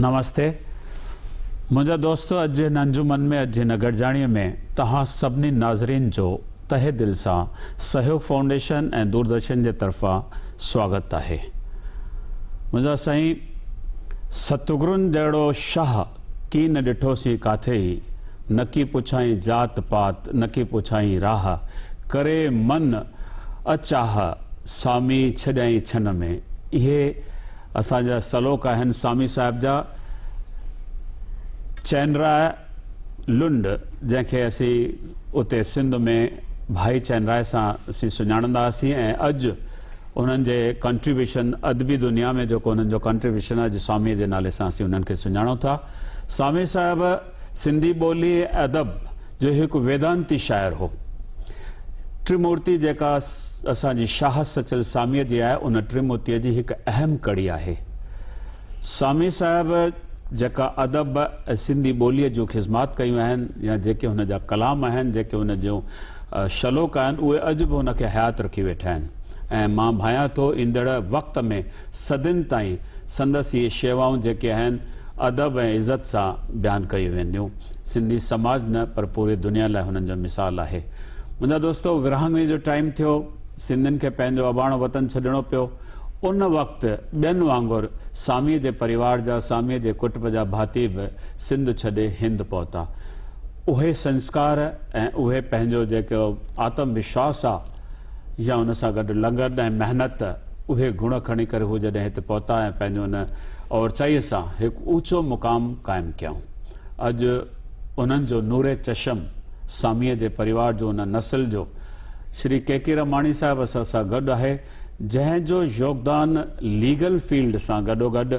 نمستي منهنجا دوستو اڄ جي هن انجمن ۾ اڄ جي هن گڏجاڻي ۾ توهان سڀني ناظرين جو تهه دل سان سهيوگ فائونڊيشن ۽ دوردرشن جي طرفان سواگت آهي منهنجا سائين ستگرن جهڙو شاهه ڪي نه ڏٺو سين ڪاٿي ئي نڪي پڇائين ذات پات نڪي پڇائين راهه ڪري من اچاهه سامي ڇڏيائين ڇن ۾ اهي اسان جا سلوڪ آهن سامي صاحب جا چئنراء لنڊ جنهن کي اسين اتي سنڌ ۾ ڀائي چئنراء سان اسين سڃاڻندا هئاسين ۽ اڄ انهن جي ڪنٽريبيوشن ادبي دنيا ۾ جيڪو انهن جو ڪنٽريبيوشن اڄ سامي جي نالي سان اسين انهن کي سڃاڻون ٿا سامي صاحب سنڌي ٻولي ۽ ادب جو هڪ ويدانتي شاعر هو. ٽريمورتي جيڪا اسان جي شاهه سچل ساميء جي آهي، ان ٽريمورتيء جي هڪ اهم ڪڙي آهي. سامي صاحب جيڪا ادب ۽ سنڌي ٻوليء جون خذمات ڪيون آهن يا جيڪي هن جا ڪلام آهن، جيڪي هن جون شلوڪ آهن، اهي اڄ به هن کي حيات رکي ويٺا آهن ۽ مان ڀانيان ٿو ايندڙ وقت ۾ صدين تائين سندس اهي شيوائون جيڪي آهن، ادب ۽ عزت سان بيان ڪيون وينديون. سنڌي سماج نه پر پوري دنيا لاء هنن جو مثال آهي. منهنجا دوستو ورهاڱي جو ٽائيم ٿيو، سنڌين کي پنهنجو اباڻو وطن ڇڏڻو پيو. ان وقت ٻين وانگر ساميء جي پريوار جا، ساميء جي ڪٽب جا ڀاتي به سنڌ ڇڏي هند پهتا. اهي سنسڪار ۽ اهي پنهنجو جيڪو آتم وشواس آ، يا ان سان گڏ لنگھن ۽ محنت، اهي گڻ کڻي ڪري هو جڏهن هت پهتا ۽ پنهنجو ان اورچائيء سان هڪ اوچو مقام قائم ڪيائون. اڄ انهن جو نور چشم ساميء جي پريوار جو ان نسل جو شري ڪي ڪي رماڻي صاحب اسان سان گڏ آهي، جنهن جو يوگدان ليگل فيلڊ سان گڏوگڏ،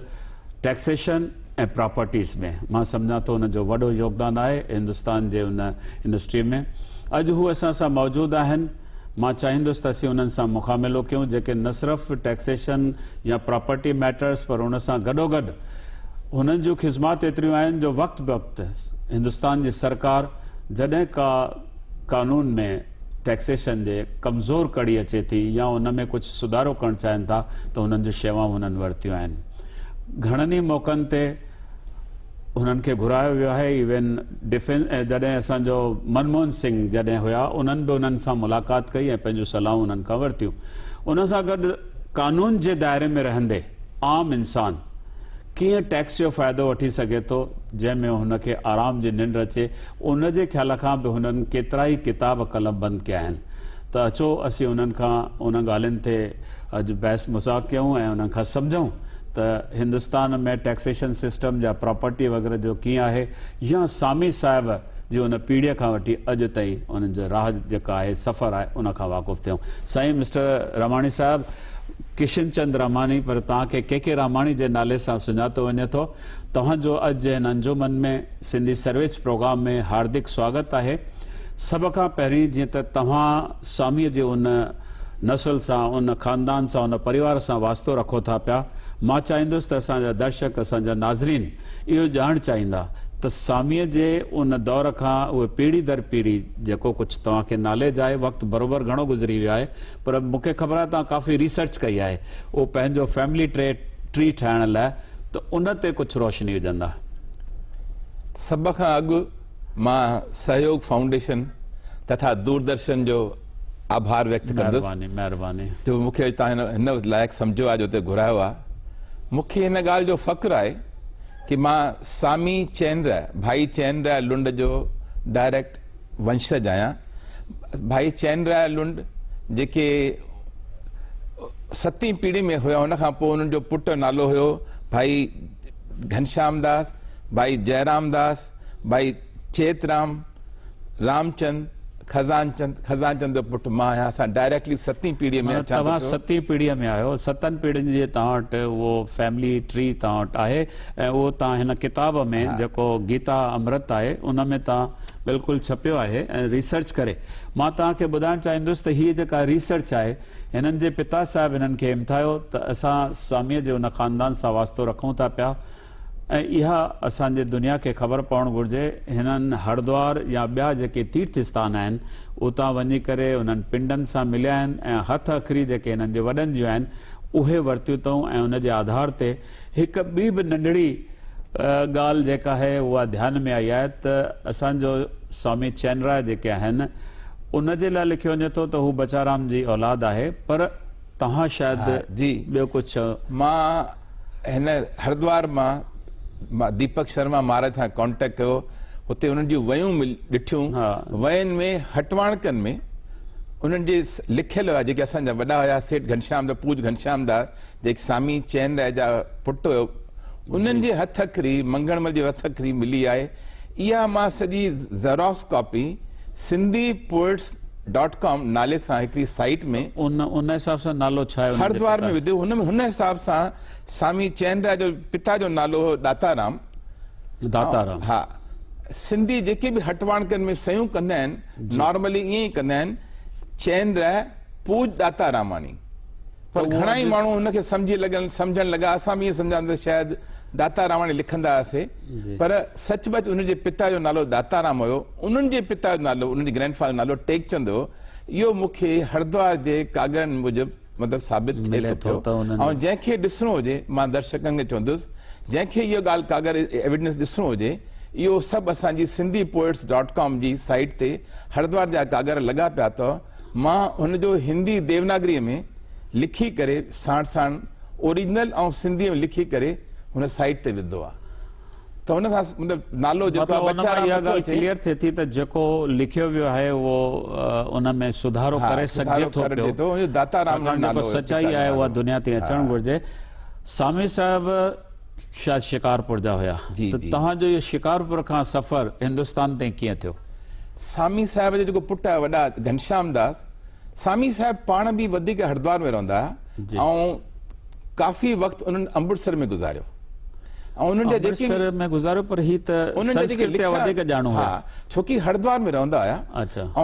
ٽيڪسيشن ۽ پراپرٽيز ۾ مان سمجهان ٿو ان جو وڏو يوگدان آهي هندستان جي ان انڊسٽري ۾ اڄ هو اسان سان موجود آهن مان چاهيندس ته اسين انهن سان مخاملو ڪيون جيڪي نه صرف ٽيڪسيشن يا پراپرٽي ميٽرز پر ان سان گڏوگڏ هنن جون خدمات ايتريون آهن جو وقت بوقت هندستان جي سرڪار جڏهن ڪا قانون ۾ ٽيڪسيشن جي ڪمزور ڪڙي اچي ٿي يا ان ۾ ڪجهه سڌارو ڪرڻ چاهين ٿا ته هنن جون شيوائون هنن ورتيون آهن. گهڻن ئي موقعن تي هنن کي گهرايو ويو آهي ايون ڊفينس جڏهن اسان جو منموهن سنگهه جڏهن هيا انهن به انهن سان ملاقات ڪئي ۽ پنهنجون صلاحون انهن کان ورتيون. ان سان گڏ قانون جي دائري ۾ رهندي عام انسان ڪيئن ٽيڪس جو فائدو وٺي سگهي ٿو، جنهن ۾ هن کي آرام جي ننڊ اچي، ان جي خيال کان به هنن ڪيترائي ڪتاب قلم بند ڪيا آهن. ته اچو اسين انهن کان انهن ڳالهين تي اڄ بحث مذاق ڪيون ۽ انهن کان سمجهون ته هندستان ۾ ٽيڪسيشن سسٽم جا پراپرٽي وغيره جو ڪيئن آهي يا سامي صاحب جي ان پيڙهيء کان وٺي اڄ تائين انهن جو راهه جيڪا آهي سفر آهي ان کان واقف ٿيون سائين مسٽر راماڻي صاحب ڪشن چند راماڻي پر توهان کي ڪي ڪي راماڻي جي نالي سان سڃاتو وڃي ٿو توهان جو اڄ جي هن انجمن ۾ سنڌي سرويچ پروگرام ۾ هاردڪ سواگت آهي سڀ کان پهرين جيئن ته توهان سوامي جي ان نسل سان ان خاندان سان ان پريوار سان واسطو رکو ٿا پيا مان چاهيندس ته اسان جا درشڪ اسان جا ناظرين اهو ڄاڻ چاهيندا ته سوامي جي ان دور کان اهي پيڙهي در پيڙهي جيڪو ڪجهه توهان کي ناليج آهي وقت بروبر گهڻو گذري ويو آهي پر مون کي خبر آهي توهان ڪافي ريسرچ ڪئي آهي اهو پنهنجو فيملي ٽري ٽري ٺاهڻ لاء ته ان تي ڪجهه روشني وجهندا. سڀ کان اڳ مان سهيوگ فائونڊيشن تٿا دوردرشن جو آڀار ويڪت ڪندس مهرباني مهرباني. جو مون کي اڄ توهان هن لائق سمجهيو آهي جو هتي گهرايو آهي. مون کي هن ڳالهه جو فخر آهي ڪي مان سامي چينريا ڀائي چينريا لنڊ جو ڊائريڪٽ ونشج آهيان. ڀائي چين رايا لنڊ جيڪي ستين پيڙهي ۾ هيا ان کان پوء انهن جو پٽ نالو هيو ڀائي گهنشام داس، ڀائي جئرام داس، ڀائي چيت رام، رامچند، خزان چند، خزان چند جو پٽ مان آهيان اسان ڊائريڪٽلي ستين پيڙهي ۾ اچان ٿو پيو. توهان ستين پيڙهي ۾ آهيو ستن پيڙهين جي توهان وٽ اهو فيملي ٽري توهان وٽ آهي. ۽ اهو تان هن ڪتاب ۾ جيڪو گيتا امرت آهي ان ۾ تان بلڪل ڇپيو آهي ۽ ريسرچ ڪري مان تان کي ٻڌائڻ چاهيندس ته هيء جيڪا ريسرچ آهي هنن جي پتا صاحب هنن کي همٿايو ته اسان ساميء جي ان خاندان سان واسطو رکون ٿا پيا ۽ اها اسان جي دنيا کي خبر پوڻ گهرجي هنن هردوار يا ٻيا جيڪي تيرٿ استان آهن اتان وڃي ڪري انهن پنڊن سان مليا آهن ۽ هٿ اکري جيڪي هنن جي وڏن جون آهن اهي ورتيون اٿئون ۽ ان جي آڌار تي هڪ ٻي به ننڍڙي ڳالهه جيڪا آهي اها ڌيان ۾ آئي آهي ته اسان جو سوامي چين راء جيڪي آهن ان جي لاء لکيو وڃي ٿو ته هو بچارام جي اولاد آهي پر توهان شايد ٻيو ڪجهه چئو. مان هن هردوار مان مان ديپڪ شرما مهاراج سان ڪانٽيڪٽ ڪيو هتي انهن جون ويون مل ڏٺيون وين ۾ هٽواڻڪن ۾ انهن جي لکيل هئا جيڪي اسان جا وڏا هيا سيٺ گهنشيام دا پوج گهنشيام دا جيڪي سامي چين رائي جا پٽ هيو انهن جي هٿ اکري منگهڻ مل جي هٿ اکري ملي آهي اها مان سڄي xerox copy Sindhi poets dot com نالي سان هڪڙي سائيٽ ۾ ان حساب سان نالو ڇا هيو هردوار ۾ وڌو هن ۾ هن حساب سان سامي چين رائي جو پتا جو نالو هو داتا رام داتا رام ها سنڌي جيڪي به هٽواڻڪن ۾ سيون ڪندا آهن نارملي ائين ئي ڪندا آهن چين رائي پوڄ داتا راماڻي پر گهڻا ئي ماڻهو ان کي سمجهي لڳن سمجهڻ لڳا اسان به ائين سمجهاندا ته شايد داتا راماڻي لکندا هئاسي پر سچ پچ انهن جي پتا جو نالو داتا رام هيو انهن جي پتا جو نالو انهن جي گرينڊ فادر جو نالو ٽيڪچند هيو اهو مون کي هردوار جي ڪاڳرن موجب مطلب ثابت ٿئي ٿو پيو ۽ جنهن کي ڏسڻو هجي مان درشڪن کي چوندس جنهن کي اهو ڳالهه ڪاڳر ايويڊنس ڏسڻو هجي اهو سڀ اسان جي سنڌي پوئٽس ڊاٽ ڪام جي سائيٽ تي هردوار جا ڪاڳر لڳا پيا اٿئو مان هن جو هندي ديوناگريء ۾ لکي ڪري ساڻ ساڻ اوريجنل ۽ سنڌيء ۾ لکي ڪري هن سائيٽ تي وڌو آ ته هن سان مطلب نالو جيڪو آ مطلب ان مان اها ڳالهه ڪليئر ٿئي ٿي ته جيڪو لکيو ويو آهي اهو ان ۾ سڌارو ڪري سگهجي ٿو پيو ڇاڪاڻ جيڪو سچائي آهي اها دنيا تي اچڻ گهرجي سامي صاحب شايد شڪارپور جا هيا ته توهان جو اهو شڪارپور کان سفر هندستان تائين ڪيئن ٿيو؟ سامي صاحب جا جيڪو پٽ وڏا گهنشام داس سامي صاحب پاڻ به وڌيڪ هردوار ۾ رهندا هيا ۽ ڪافي وقت انهن امرتسر ۾ گذاريو امرتسر ۾ گذاريو پر هي ته سنسڪرت جا وڌيڪ ڄاڻو هيا ڇوڪي هردوار ۾ رهندا هيا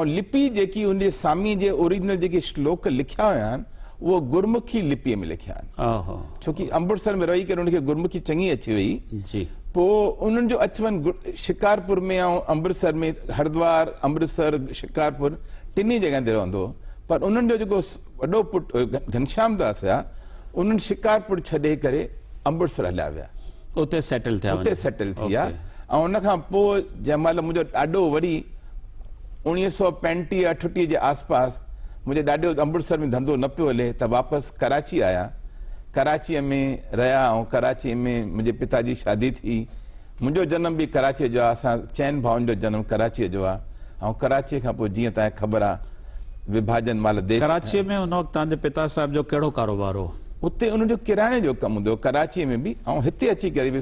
۽ لپي جيڪي ان جي سامي جي اوريجنل جيڪي شلوڪ لکيا هيا آهن اهو گرمکي لپي ۾ لکيا آهن ڇو ڪي امبڙسر ۾ رهي ڪري ان کي گرمکي چڱي اچي وئي جي پو انهن جو اچ ون شڪارپور ۾ ۽ امبرسر ۾ هردوار امبرسر شڪارپور ٽنهي جڳهن تي رهندو هو پر انهن جو جيڪو وڏو پٽ گهنشام داس هيا انهن شڪارپور ڇڏي ڪري امبرسر هليا ويا اتي سيٽل ٿيا اتي سيٽل ٿي ويا ۽ ان کان پو جنهن مهل منهنجو ڏاڏو وري اڻيهه سؤ پنجٽيهه اٺٽيهه جي آس پاس منهنجي ڏاڏي جو امرتسر ۾ ڌنڌو نه پيو هلي ته واپس ڪراچي آيا. ڪراچيء ۾ رهيا ۽ ڪراچيء ۾ منهنجي پتا جي شادي ٿي. منهنجو جنم به ڪراچيء جو آ. اسان چئن ڀائن جو جنم ڪراچيء جو آ ۽ ڪراچيء کان پوء جيئن توهان کي خبر آ وڀاجن مهل ديش ڪراچيء ۾ ان وقت توهان جي پتا صاحب جو ڪهڙو ڪاروبار هو؟ اتي انهن جو ڪرياني جو ڪم هوندو هو ڪراچيء ۾ به ۽ هتي اچي ڪري به.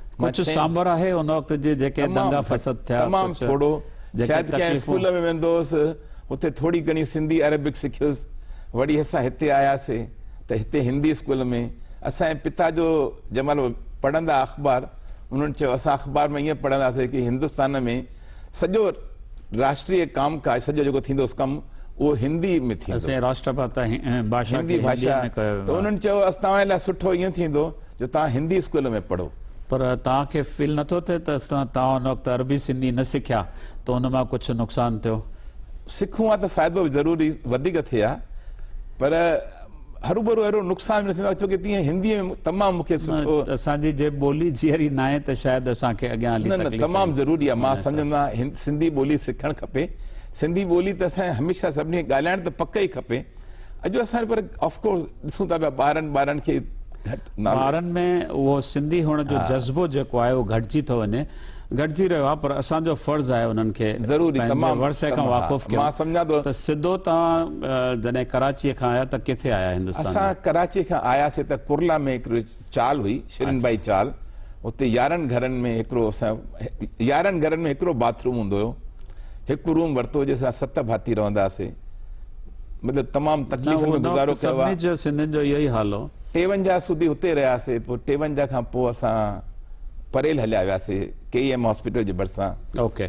ڪجهه سانڀر آهي ان وقت جي جيڪي دنگا فسد ٿيا. تمام ٿورو. شايد ڪنهن اسڪول ۾ ويندو هوس. اتي ٿوري گهڻي سنڌي عربڪ سکيس. وري اسان هتي آياسي ته هتي هندي اسڪول ۾ اسان جي پتا جو جنهن مهل پڙهندا اخبار انهن چيو اسان اخبار ۾ ائين پڙهنداسين ڪي هندستان ۾ سڄو راشٽريه ڪام ڪاج سڄو جيڪو ٿيندوس ڪم اهو هندي ۾ ٿيندو. اسان جي راشٽرپتا هندي ڀاشا ۾ ڪيو ويندو. ته انهن چيو توهان جي لاء سٺو ائين ٿيندو. جو توهان هندي اسڪول ۾ پڙهو. پر توهان کي فيل نه ٿو ٿئي ته اصلان توهان ان وقت عربي سنڌي نه سکيا ته ان مان ڪجهه نقصان ٿيو؟ سکون ها ته فائدو ضرور ئي وڌيڪ ٿئي ها پر هروڀرو اهڙو نقصان به نه ٿيندو آهي ڇوڪه تيئن هندي ۾ تمام مون کي سٺو. نه اسان جي جي ٻولي جيئري ناهي ته شايد اسان کي اڳيان هلي تڪليف. نه نه تمام ضروري آهي مان سمجهندو آهيان سنڌي ٻولي سکڻ کپي سنڌي ٻولي ته اسان کي هميشه سڀني کي ڳالهائڻ ته پڪ ئي کپي. اڄ اسان پر آف ڪورس ڏسون ٿا پيا ٻارن ٻارن کي ٻارن ۾ اهو سنڌي هئڻ جو جذبو جيڪو آهي اهو گهٽجي ٿو وڃي گهٽجي رهيو آهي پر اسان جو فرض آهي انهن کي ضروري تمام ورثي کان واقف ڪيو مان سمجھان ٿو ته سڌو توهان جڏهن ڪراچي کان آيا ته ڪٿي آيا هندستان اسان ڪراچي کان آياسي ته ڪرلا ۾ هڪ چال هئي شرين باهي چال اتي يارهن گهرن ۾ هڪڙو اسان يارهن گهرن ۾ هڪڙو باٿ روم هوندو هيو هڪ روم ورتو جنهن سان ست ڀاتي رهندا هئاسي مطلب تمام تڪليفن ۾ گذارو ڪيو آهي جو سنڌين جو اهو ئي حال هو ٽيونجاهه سودي هتي رهياسي پوء ٽيونجاهه کان پوء اسان پريل هليا وياسي ڪي ايم هاسپيٽل جي ڀرسان اوڪي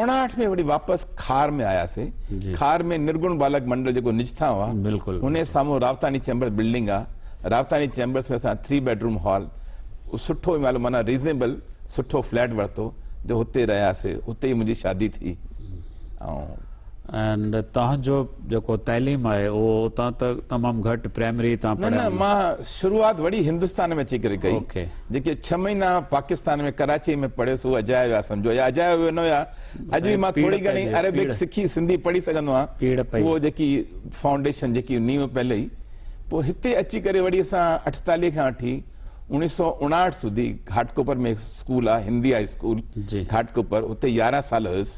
اڻاٺ ۾ وري واپس کار ۾ آياسين. کار ۾ نرگڻ بالڪ منڊل جيڪو نجٿان هئا، ان جي سامهون راوتاڻي چيمبرز بلڊنگ آ. راوتاڻي چيمبرز ۾ اسان ٿري بيڊ روم هال، سٺو مالو معنيٰ ريزنيبل سٺو فليٽ ورتو جو هتي رهياسي. هتي ئي منهنجي شادي ٿي ۽. ۽ توهان جو جيڪو تعليم آهي اهو اتان ته تمام گهٽ پرائمري تان پڙهيل. نه نه مان شروعات وڙي هندستان ۾ اچي ڪري ڪئي. جيڪي ڇهه مهينا پاڪستان ۾ ڪراچيء ۾ پڙهيس اهي اجايا ويا سمجهو يا اجايا اهي نه هيا اڄ به مان ٿوري گهڻي عربڪ سکي سنڌي پڙهي سگهندو آهيان اهو جيڪي فائونڊيشن جيڪي نيون پيل هئي پوء هتي اچي ڪري وڙي اسان اٺتاليهه کان وٺي اوڻيهه سؤ اڻاهٺ سوڌي گهاٽڪوپر ۾ اسڪول آهي هندي هاء اسڪول گهاٽڪوپر اتي يارهن سال هيس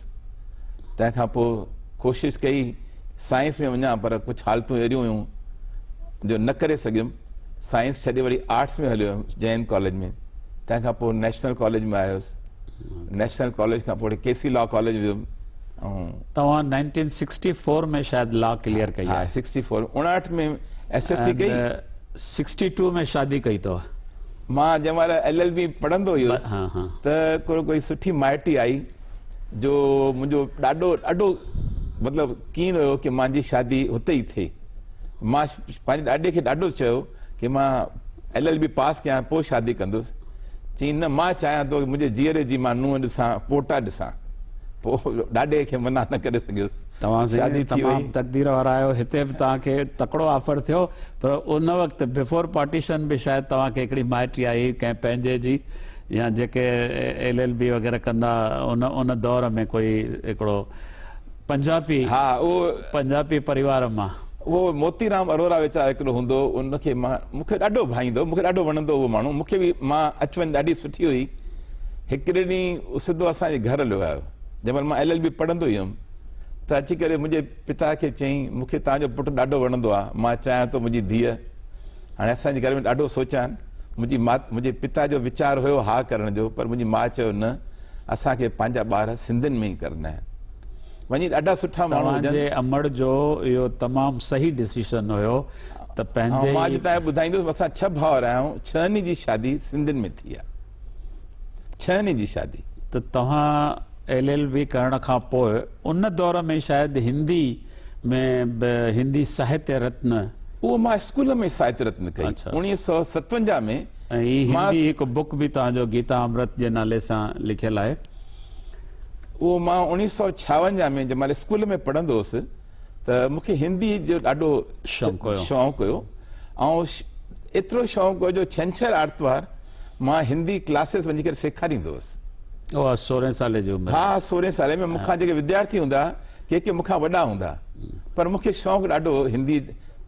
تنهن کان پوء ڪوشش ڪئي سائنس ۾ وڃان پر ڪجهه حالتون اهڙيون هيون جو نه ڪري سگهيم سائنس ڇڏي وڙي آرٽس ۾ هليو ويم جي اين ڪاليج ۾ تنهن کان پوء نيشنل ڪاليج ۾ آيس نيشنل ڪاليج کان پوء ڪي سي لا ڪاليج ويم توهان 1964 ۾ شايد لا ڪليئر ڪئي آهي 64 59 ۾ ايس ايس سي ڪئي 62 ۾ شادي ڪئي تو مان جنهن مهل ايل ايل بي پڙهندو هيس ته ڪو ڪوئي سٺي مائٽي آئي جو منهنجو ڏاڏو ڏاڍو مطلب ڪين هيو ڪي مانجي شادي هتي ئي ٿئي مان پنهنجي ڏاڏي کي ڏاڍو چيو ڪي مان ايل ايل بي پاس ڪيان پوء شادي ڪندس چين نه مان چاهيان ٿو منهنجي جيئري جي مان نونهن ڏسان پوٽا ڏسان پوء ڏاڏي کي منع نه ڪري سگهيس توهان سائين تمام تقدير وارا آهيو هتي به توهان کي تڪڙو آفر ٿيو پر ان وقت بيفور پارٽيشن به شايد توهان کي هڪڙي مائٽي آئي هئي ڪنهن پنهنجي جي يا جيڪي ايل ايل بي وغيره ڪندا ان ان دور ۾ ڪوئي هڪڙو پنجابي ها اهو پنجابي پريوار مان. اهو موتي رام اروڙا ويچار هڪڙو هوندو هو ان کي مان مون کي ڏاڍو ڀائيندو هو مون کي ڏاڍو وڻندو هو اهو ماڻهو مون کي به مان اچ وڃ ڏاڍي سٺي هئي هڪڙي ڏينهن هو سڌو اسان جي گهر هليو آيو جنهن مهل مان ايل ايل بي پڙهندو ئي هيم ته اچي ڪري منهنجي پتا کي چيائين مون کي توهان جو پٽ ڏاڍو وڻندو آهي مان چاهيان ٿو منهنجي ڌيء هاڻي اسان جي گهر ۾ ڏاڍو سوچيان. منهنجي مات منهنجي پتا جو ويچار هيو ها ڪرڻ جو پر منهنجي ماء چيو نه اسان کي پنهنجا ٻار سنڌين ۾ ئي ڪرنا آهن. وڃي ڏاڍا سٺا ماڻهو توهان هجن. جي امڙ جو اهو تمام صحيح ڊسيشن هيو ته پنهنجي مان اڄ تائين ٻڌائيندس اسان ڇهه ڀائر آهيون ڇهن ئي جي شادي سنڌين ۾ ٿي آهي ڇهن ئي جي شادي. ته توهان ايل ايل بي ڪرڻ کان پوء ان دور ۾ شايد هندي. ۾ به هندي ساهتيه رتن. اهو مان اسڪول ۾ ساهتيه رتن ڪئي اڇا. اوڻيهه سؤ ستونجاهه ۾. ۽ هي مان. هندي هڪ بوڪ به توهان جو گيتا امرت جي نالي سان لکيل آهي. اهو مان اوڻيهه سؤ ڇاونجاهه ۾ جنهن مهل اسڪول ۾ پڙهندو هوس ته مون کي هندي جو ڏاڍو شوق هيو. شوق هيو. آئون ايترو شوق هو جو ڇنڇر آرتوار. مان هندي ڪلاسز وڃي ڪري سيکاريندو هوس. اوهه سورهين سالي جي عمر ۾. ها سورهين سالي ۾ مون کان جيڪي وديارٿي هوندا ڪي ڪي مون کان وڏا هوندا پر مون کي شوق ڏاڍو هو هندي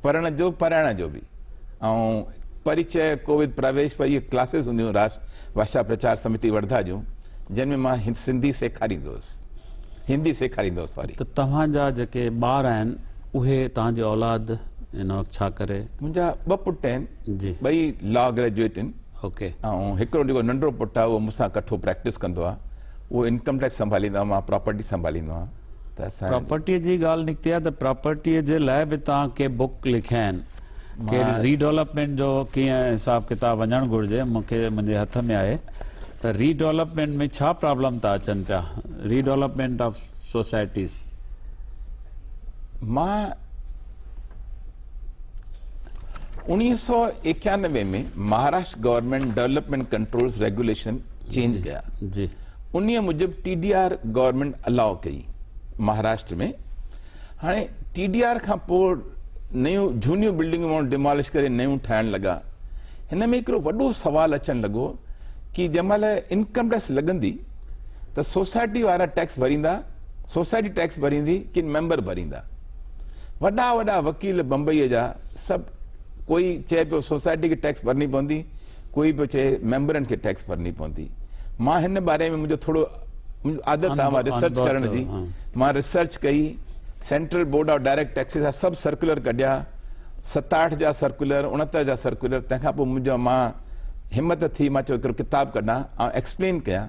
پڙهڻ جو پرائڻ جو به ۽ پريچئه ڪوويد پراويش پر اهي ڪلاسز هونديون راشٽر ڀاشا پرچار سمتي ورڌا جون جن ۾ مان سنڌي سيکاريندو هوس هندي سيکاريندو هوس ساري. ته توهان جا جيڪي ٻار آهن اهي توهان جي اولاد هن وقت ڇا ڪري؟ منهنجا ٻه پٽ آهن. ٻئي لا گريجوئيٽ آهن ۽ هڪڙو جيڪو ننڍڙو پٽ آهي اهو مون سان ڪٺو پريڪٽس ڪندو آهي اهو انڪم ٽيڪس سنڀاليندو آهي مان پراپرٽي سنڀاليندو آهيان ته اسان پراپرٽي جي ڳالهه نڪتي آهي ته پراپرٽي جي لاء به توهان ڪي بوڪ لکيا آهن ڪي ري ڊولپمينٽ جو ڪيئن حساب کتاب وڃڻ گهرجي مون کي منهنجي هٿ ۾ آهي ته ري ڊولپمينٽ ۾ ڇا پرابلم ٿا اچن پيا ري ڊولپمينٽ آف سوسائٽيز مان انويهه سؤ ايڪيانوي ۾ Maharashtra government development controls regulation change ڪيا انهي موجب ٽي ڊي آر گورنمينٽ الاء ڪئي مهاراشٽر ۾ هاڻي ٽي ڊي آر کان پوء نيون جھونيون بلڊنگون ماڻهو ڊيمالش ڪري نيون ٺاهڻ لڳا هن ۾ هڪڙو وڏو سوال اچڻ لڳو ڪي جنهن مهل انڪم ٽيڪس لڳندي ته سوسائٽي وارا ٽيڪس ڀريندا سوسائٽي ٽيڪس ڀريندي ڪن ميمبر ڀريندا وڏا وڏا وڪيل بمبئيء جا سڀ ڪوئي چئي پيو سوسائٽي کي ٽيڪس ڀرڻي پوندي ڪوئي پيو چئي ميمبرن کي ٽيڪس ڀرڻي پوندي مان هن باري ۾ منهنجو ٿورو عادت آهي مان ريسرچ ڪرڻ جي مان ريسرچ ڪئي Central Board of Direct Taxes جا سڀ سرڪولر ڪڍيا ستاهٺ جا سرڪولر اڻهتر جا سرڪولر تنهن کان پوء منهنجو مان همت ٿي مان چيو هڪڙو ڪتاب ڪڍان ۽ ايڪسپلين ڪيان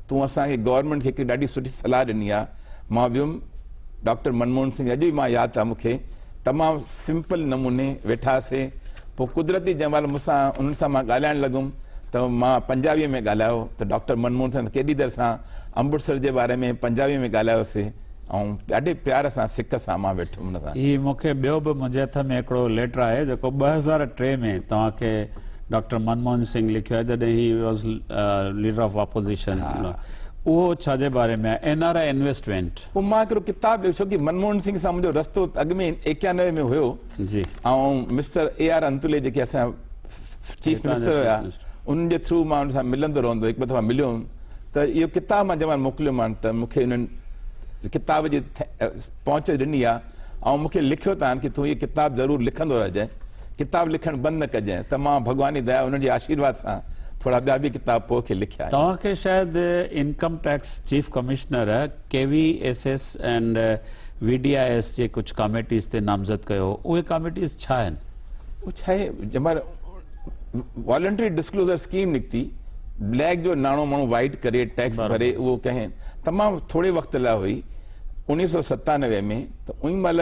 تون اسان کي گورنمينٽ کي هڪ ڏاڍي سٺي صلاح ڏني آ مان ويم ڊاڪٽر منموهن سنگهه اڄ به مان ياد آ مونکي تمام سمپل نموني ويٺا سي پو قدرتي جنهن مهل مون سان انهن سان مان ڳالهائڻ لڳم ته مان پنجابي ۾ ڳالهايو ته ڊاڪٽر منموهن سنگهه ڪيڏي دير سان امبٽسر جي باري ۾ پنجابي ۾ ڳالهايو سي آئون ڏاڍي پيار سان سڪ سان مان ويٺم ان سان. هي مون کي ٻيو به منهنجي هٿ ۾ هڪڙو ليٽر آهي جيڪو ٻه هزار ٽي ۾ توهان کي ڊاڪٽر منموهن سنگهه لکيو آهي جڏهن he was leader of opposition اهو ڇا جي باري ۾ آهي اين آر آء انويسٽمينٽ. پوء مان هڪڙو ڪتاب لکيو ڇوڪي منموهن سنگهه سان منهنجو رستو اڳ ۾ ايڪيانوي ۾ هيو جي آئون مسٽر اي آر انتولي جيڪي اسان چيف منسٽر هيا انهن جي ٿرو مان انهن سان ملندو رهندو هڪ ٻه دفعا مليو هيم ته اهو ڪتاب مان جمع موڪليو مان ته مون کي انهن ڪتاب جي پهچ ڏني آهي ۽ مون کي لکيو تان ڪي تون هي ڪتاب ضرور لکندو رهجانء ڪتاب لکڻ بند نه ڪجانء ته مان ڀڳواني ديا انهن جي آشيرواد سان ٿورا ٻيا به ڪتاب پوء کي لکيا آهن. توهان کي شايد income tax chief commissioner K V S S and V D I S جي ڪجهه ڪاميٽيز تي نامزد ڪيو هو اهي ڪاميٽيز ڇا آهن؟ اهو ڇا آهي جنهن مهل والنٽري ڊسڪلوزر اسڪيم نڪتي بليڪ جو ناڻو ماڻهو وائٽ ڪري ٽيڪس ڀري اهو ڪنهن تمام ٿوري وقت لاء هئي انيس سو ستانوي ۾ ته ان مهل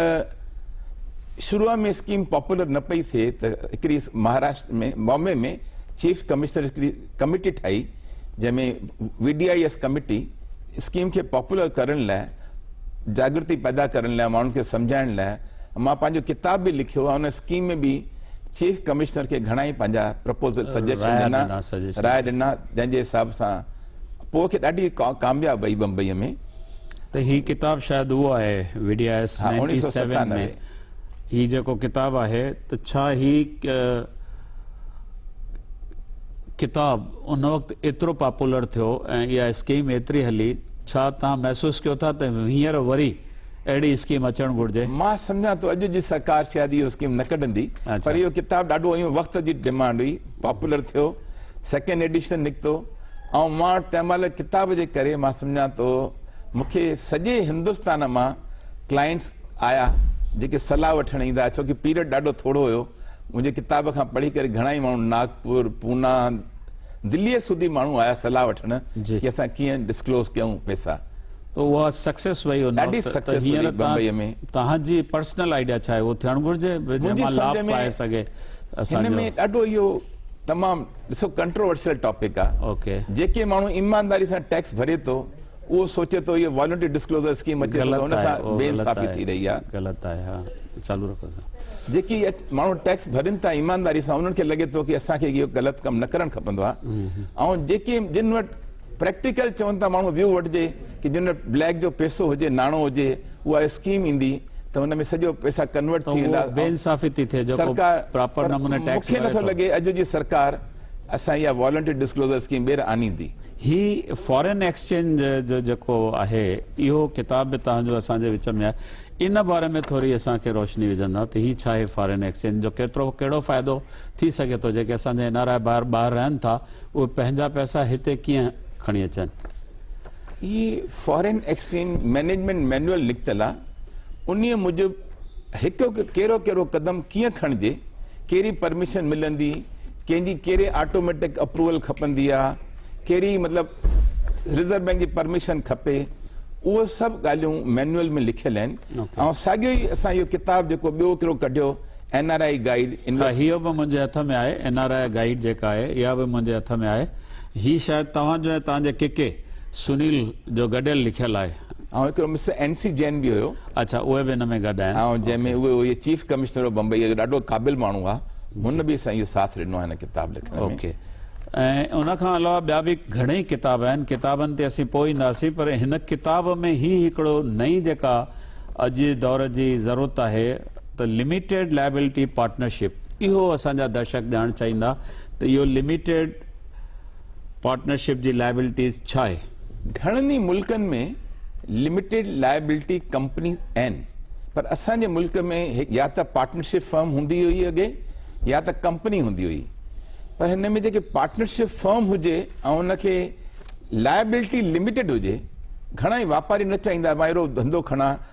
شروع ۾ اسڪيم پاپولر نه پئي ٿئي ته هڪڙي مهاراشٽر ۾ بامبي ۾ چيف ڪمشنر هڪڙي ڪميٽي ٺاهي جنهن ۾ V D I S committee scheme کي پاپولر ڪرڻ لاء جاگرتي پيدا ڪرڻ لاء ماڻهن کي سمجهائڻ لاء مان پنهنجو ڪتاب به لکيو ۽ ان اسڪيم ۾ به چيف ڪمشنر کي گهڻا ئي پنهنجا پرپوزل سجيشن ڏنا راء ڏنا جنهن جي حساب سان پوء کي ڏاڍي ڪامياب وئي بمبئي ۾ ته هي ڪتاب شايد اهو آهي V D I S ninety seven ۾ هي جيڪو ڪتاب آهي ته ڇا هي ڪتاب ان وقت ايترو پاپولر ٿيو ۽ اها اسڪيم ايتري هلي، ڇا توهان محسوس ڪيو ٿا ته هينئر وري اهڙي اسڪيم اچڻ گهرجي؟ مان سمجهان ٿو اڄ جي سرڪار شايد اهو اسڪيم نه ڪڍندي پر اهو ڪتاب ڏاڍو هيون وقت جي ڊمانڊ هئي، پاپولر ٿيو، سيڪنڊ ايڊيشن نڪتو ۽ مان وٽ تنهن مهل ڪتاب جي ڪري مان سمجهان ٿو مون کي سڄي هندستان مان ڪلائنٽس آيا جيڪي صلاح وٺڻ ايندا ڇو ڪي پيريڊ ڏاڍو ٿورو هيو منهنجي ڪتاب کان پڙهي ڪري گهڻائي ماڻهو ناگپور، پونا، دليء سوڌي ماڻهو آيا صلاح وٺڻ جي اسان ڪيئن ڊسڪلوز ڪيون پئسا. ته اها سڪسيس رهي هوندو ڏاڍي سڪسيس هئي هينئر تان بمبئيء ۾ توهان جي پرسنل آئيڊيا ڇا آهي اهو ٿيڻ گهرجي جنهن منهنجي مان لاڀ سمجهه ۾ پائي سگهي اسان هن جو ۾ ڏاڍو اهو تمام ڏسو ڪنٽروورسل ٽاپڪ آهي اوڪي جيڪي ماڻهو ايمانداري سان ٽيڪس ڀري ٿو اهو سوچي ٿو هيء والنٽري ڊسڪلوزر اسڪيم اچي ته هن سان بي انصافي ٿي رهي آهي. غلط آهي ها چالو رکو سر. جيڪي ماڻهو ٽيڪس ڀرين ٿا ايمانداري سان انهن کي لڳي ٿو ڪي اسان کي اهو غلط ڪم نه ڪرڻ کپندو آهي ۽ جيڪي جن وٽ پريڪٽيڪل چون ٿا ماڻهو ويو وٺجي ڪي جن وٽ بليڪ جو پيسو هجي ناڻو هجي اها اسڪيم ايندي ته ان ۾ سڄو پيسا ڪنورٽ ٿي ويندا ۽ سرڪار مونکي نٿو لڳي اڄ جي سرڪار اسان اها والنٽري ڊسڪلوزر اسڪيم ٻيهر آنيندي. هي فارين ايڪسچينج جو جيڪو آهي اهو ڪتاب به توهان جو اسان جي وچ ۾ آهي ان باري ۾ ٿوري اسان کي روشني وجهندا ته هي ڇا آهي فارين ايڪسچينج جو ڪيترو ڪهڙو فائدو ٿي سگهي ٿو جيڪي اسان جا اين آر آء ڀائر ٻاهر رهن ٿا اهي پنهنجا پئسا هتي ڪيئن کڻي اچن. هي فارين ايڪسچينج مئنيجمينٽ مينوئل نڪتل آ انهي موجب هڪ هڪ ڪهڙو ڪهڙو قدم ڪيئن کڻجي ڪهڙي پرميشن ملندي ڪنهن جي ڪهڙي آٽوميٽڪ اپروول کپندي آ ڪهڙي مطلب رزرو بينڪ جي پرميشن کپي اهو سڀ ڳالهيون مينوئل ۾ لکيل آهن ۽ ساڳيو ئي اسان اهو ڪتاب جيڪو ٻيو هڪڙو ڪڍيو اين آر آئي گائيڊ هيء به منهنجي هٿ ۾ آهي اين آر آئي گائيڊ جيڪا آهي اها به منهنجي هٿ ۾ آهي هي شايد توهان جو ۽ توهان جي ڪڪي سنيل جو گڏيل لکيل آهي. ۽ هڪڙو مسٽر اين سي جين به هيو. اڇا اهي به ان ۾ گڏ آهن. ۽ جنهن ۾ اهو هيء چيف ڪمشنر آف بمبئي اهو ڏاڍو قابل ماڻهو آهي هن به اسان اهو ساٿ ڏنو آهي هن ڪتاب لکڻ ۾. اوڪي ۽ ان کان علاوه ٻيا به گهڻيئي ڪتاب آهن ڪتابن تي اسين پوء اينداسين پر هن ڪتاب ۾ هي هڪڙو نئين جيڪا اڄ جي دور جي ضرورت آهي ته لميٽيڊ لائبلٽي پارٽنرشپ اهو اسان جا درشڪ ڄاڻ چاهيندا ته اهو لميٽيڊ پارٽنرشپ جي لائبلٽيز ڇا آهي؟ گهڻن ئي ملڪن ۾ لميٽيڊ لائبلٽي ڪمپنيز آهن پر اسان جي ملڪ ۾ يا ته پارٽنرشپ فرم هوندي هئي اڳي يا ته ڪمپني هوندي هئي پر هن ۾ جيڪي پارٽنرشپ فرم هجي ۽ ان کي لائبلٽي لميٽيڊ هجي گهڻا ئي واپاري نه چاهيندا مان اهڙو ڌنڌو کڻان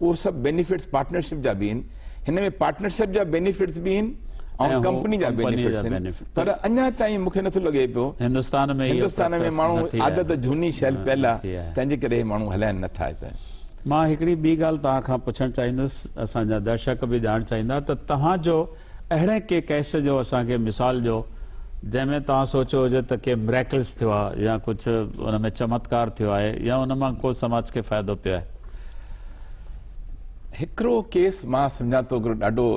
اهي سڀ بينيفٽس پارٽنرشپ جا به آهن هن ۾ پارٽنرشپ جا بينيفٽس به آهن ۽ ڪمپني جا بينيفٽس آهن پر اڃا تائين مونکي نٿو لڳي پيو هندستان ۾ هندستان ۾ ماڻهو عادت جهوني شيل پيل آهي تنهن جي ڪري ماڻهو هلائن نٿا هت مان هڪڙي ٻي ڳالهه توهان کان پڇڻ چاهيندس اسان جا درشڪ به ڄاڻ چاهيندا ته توهان جو اهڙي ڪنهن ڪيس جو اسان کي مثال ڏيو جنهن ۾ توهان سوچيو هجي ته ڪي Miracles ٿيو آهي يا ڪجهه ان ۾ چمتڪار ٿيو آهي يا ان مان ڪو سماج کي فائدو پيو آهي. هڪڙو ڪيس مان سمجهان ٿو هڪڙو ڏاڍو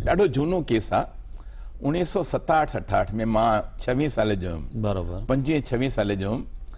ڏاڍو جهونو ڪيس آهي اڻيهه سؤ ستاهٺ اٺاهٺ ۾ مان ڇويهه سالي جو هيم بروبر پنجويهه ڇويهه سالي جو هيم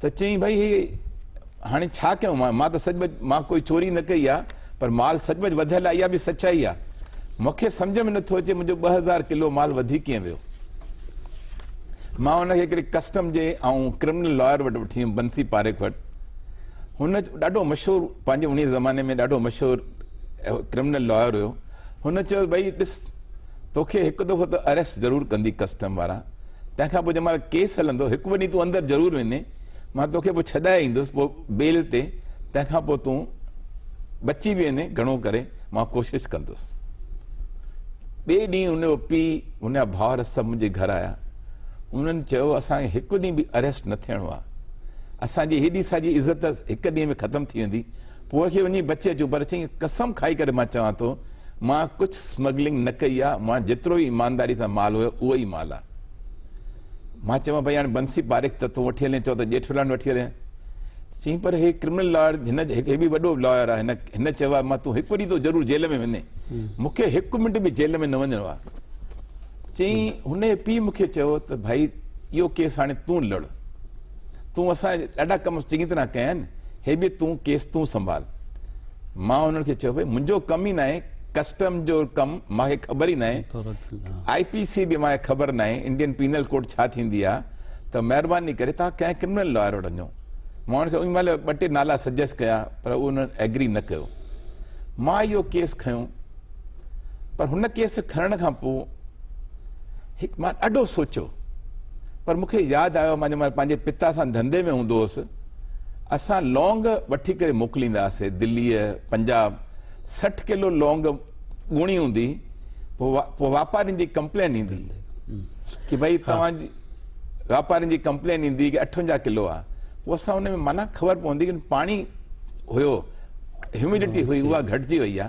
ته چيائين ڀائي هي هاڻي ڇا ڪيون مان مان ته سچ پچ مان ڪوئي چوري نه ڪئي آ پر مال سچ پچ وڌيل آ اها به سچائي آ مونکي سمجهه ۾ نٿو اچي منهنجو ٻه هزار ڪلو مال وڌي ڪيئن ويو مان ان کي هڪڙي ڪسٽم جي ۽ ڪرمنل لاير وٽ وٺي ويم بنسي پاريک وٽ هن ڏاڍو مشهور پنهنجي انهي زماني ۾ ڏاڍو مشهور ڪرمنل لاير هيو هن چيو ڀئي ڏس توکي هڪ دفعو ته اريسٽ ضرور ڪندي ڪسٽم وارا، تنهن کان پوء جنهن مهل ڪيس هلندو هڪ ٻه ڏينهن تون اندر ضرور وڃي، مان توکي پوء ڇڏائي ايندس پوء بيل تي، تنهن کان پوء تون بچي به وڃي، گهڻو ڪري مان ڪوشش ڪندس. ٻئي ڏينهن هن جو پيء، هن جا ڀائر سڀ منهنجي گهر آيا. انهن چيو اسان کي هڪ ڏينهن به اريسٽ نه ٿيڻو آهي. اسان جي هيڏي ساڄي عزت هڪ ڏينهن ۾ ختم ٿي ويندي. پوء کي وڃي بچي اچو پر چيائين قسم کائي ڪري مان چوان ٿو مان ڪجهه سمگلنگ نه ڪئي آ مون جيترو به ايمانداري سان مال هيو اهو ئي مال آ مان چيم ڀئي هاڻي بنسي پاريخ ته تون وٺي هلين چئو ته ڄيٺولاڻ وٺي هلين چيائين پر هي ڪرمنل لائر هن هي به وڏو لائر آ هن چيو آ مان تون هڪ ڏينهن تو ضرور جيل ۾ ويندين مون کي هڪ منٽ به جيل ۾ نه وڃڻو آ چيائين هن جي پيء مون کي چيو ته ڀئي اهو ڪيس هاڻي تون لڙ تون اسان جا ڏاڍا ڪم چڱي طرح ڪيا آهن، هي به تون ڪيس تون سنڀال. مان انهن کي چيو، ڀئي منهنجو ڪم ئي ناهي، ڪسٽم جو ڪم مان کي خبر ئي ناهي، آء پي سي به مان کي خبر ناهي، انڊين پينل ڪوڊ ڇا ٿيندي آهي، ته مهرباني ڪري توهان ڪنهن ڪرمنل لائر وٽ وڃو. مان انهن کي ان مهل ٻه ٽي نالا سجيسٽ ڪيا پر انهن ايگري نه ڪيو. مان اهو ڪيس کنيو پر هن ڪيس کڻڻ کان پوء، هڪ مان ڏاڍو سوچيو پر مون کي ياد آيو مان جڏهن پنهنجي پتا سان ڌنڌي ۾ هوندو هوس اسان لونگ وٺي ڪري موڪليندا هئاسي دليء پنجاب سٺ ڪلو لونگ ڳوڻي هوندي پوء واپارين جي ڪمپلين ايندي ڪي ڀئي توهان جي واپارين جي ڪمپلين ايندي ڪي اٺونجاهه ڪلو آ پوء اسان ان ۾ معنيٰ خبر پوندي ڪي پاڻي هيو هيوميڊٽي هئي اها گهٽجي وئي آ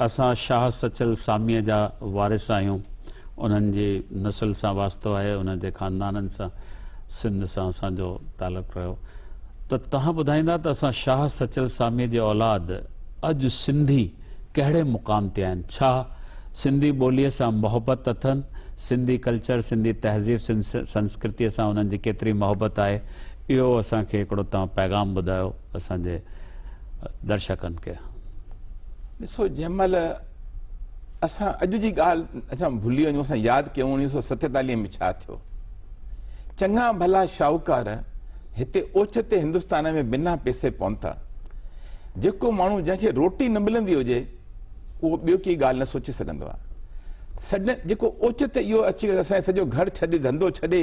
اسان شاهه سچل ساميء جا وارث آهيون، انهن جي نسل سان واسطو آهي، انهن جي خاندانن سان سنڌ سان اسان جو تعلق رهيو ته توهان ٻڌائيندا ته اسان شاهه سچل ساميء جي اولاد اڄ سنڌي ڪهڙي مقام تي آهن، ڇا سنڌي ٻوليء سان محبت اٿن، سنڌي ڪلچر، سنڌي تهذيب، سنڌ سنسڪرتيء سان انهن جي ڪيتري محبت آهي، اهو اسان کي هڪڙو توهان پيغام ٻڌايو، اسان جي. درشڪن کي. ڏسو جنهن مهل اسان اڄ جي ڳالهه اسان ڀلي وڃون اسان ياد ڪيون اڻويهه سؤ ستيتاليهه ۾ ڇا ٿيو چڱا ڀلا شاهوڪار هتي اوچتي هندستان ۾ بنا پيسي پهتا جيڪو ماڻهو جنهن کي روٽي نه ملندي هجي اهو ٻيو ڪي ڳالهه نه سوچي سگهندو آهي سڊن جيڪو اوچتي اهو اچي اسان سڄو گهر ڇڏي ڌنڌو ڇڏي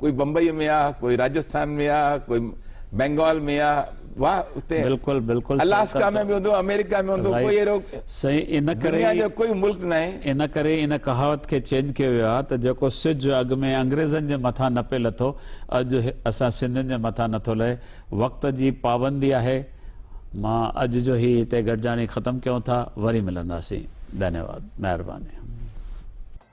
ڪوئي بمبئيء ۾ آ، ڪوئي راجسٿان ۾ آ، ڪوئي بينگال ۾ آ، واهه اتي الاسڪا ۾ به هوندو، آمريڪا ۾ هوندو، ڪوئي اهڙو دنيا جو ڪوئي ملڪ ناهي. ان ڪري ئي ان ڪهاوت کي چينج ڪيو ويو آهي ته جيڪو سج اڳ ۾ انگريزن جي مٿان نه پئي لٿو، اڄ اسان سنڌين جي مٿان نٿو لهي. وقت جي پابندي آهي. مان اڄ جو هي هتي گڏجاڻي ختم ڪيون ٿا. وري ملنداسين. ڌنيواد. مهرباني.